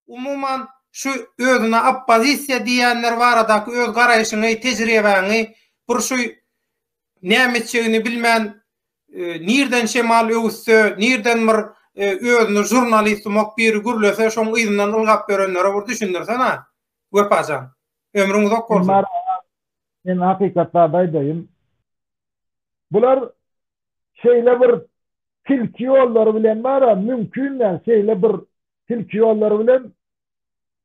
Umuman, şu özüne oppozisiýa diýýänler baradaky öz garaýşyňy, tejribäňi, bir şu näme etjegini bilmän, nirden şemal öwüsse, nirden bir özüni žurnalist umak biri gürlese, şoň yzyndan ylgap ýörenlere bir düşündirsen-ä, Wepa jan. Ömrüň uzak bolsun. Men hakykatda-da aýdaýyn, bular şeýle bir tilki ýollary bilen bar-a, mümkin däl, şeýle bir tilki ýollary bilen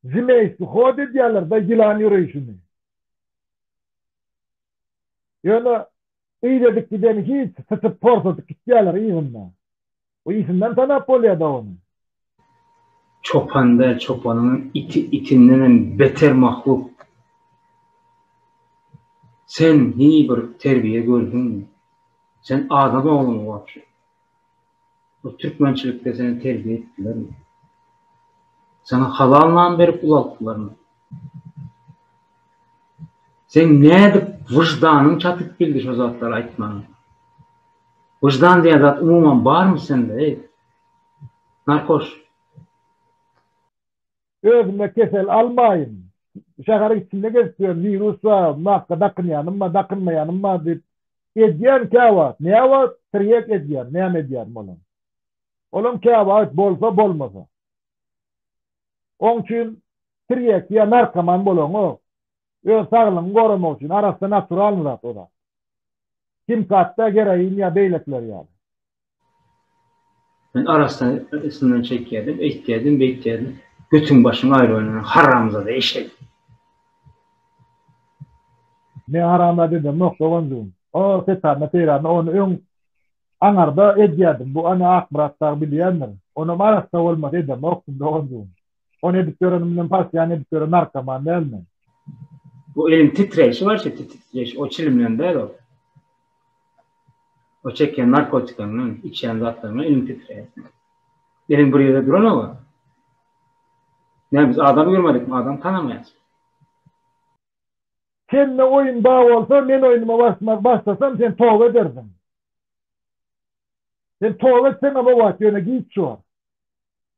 zmeýski hod edýärler-de, ýylan ýöreýşini. Ýöne yz edip gideni hiç, syçyp-porsadyp gitýärler yzynda. Bu itinden tanap bolýada ony. Çopan däl çopanyňam iti itindenem beter mahluk. Sen hini bir terbiýe gördüňmi? Sen adam oglumy wapşe? Bu türkmençilikde seni terbiýe etdilermi? Saňa halal nan berip ulaltdylarmy? Seň nädip wyždanyň çatyp bildi şo zatlary aýtmaga? Wyždan diýen zat umuman barmy sende eý narkoş. Özüme kesel almaýyn. Şäheriň içinde gezip ýören wirus bar, maska dakynýanym bar, dakynmaýanym bar diýip edýän käwagt. Näwagt tirýek edýän, näme edýän bolan. Olam käwagt bolsa bolmasa. Oň üçin tirýek ýa narkoman bolaňok. Öz saglygyňy goramak üçin arassa naturalny zat o zat. Kim katda geroin ýa beýlekiler ýaly. Men arassa üstümden çekýärdim, eýtýärdim, beýtýärdim. Götüň başyň aýrylanyna haramzada eşek. Men haramzada edemok doganjygym. O setaryna seýrana ony öň aňarda edýärdim. Bu ony Akmyrat dagy bilýändir. Onam arassa bolmasa edemokdym doganjygym. On edip görenim bilen partiýany edip gören narkoman däl men. Bu eliň titreýşi bar şu titreýş o çilim bilen däl o. O çekýän narkotikaňdan, içýän zatlaryňdan eliň titreýär. Eliň bir ýerde duranok. Näme biz adam görmedikmi, adam tanamaýarys. Sende oýun bar bolsa, men oýnuma barşmak başlasam, sen toba edersiň. Sen toba etseňem o wagt ýöne giç bor.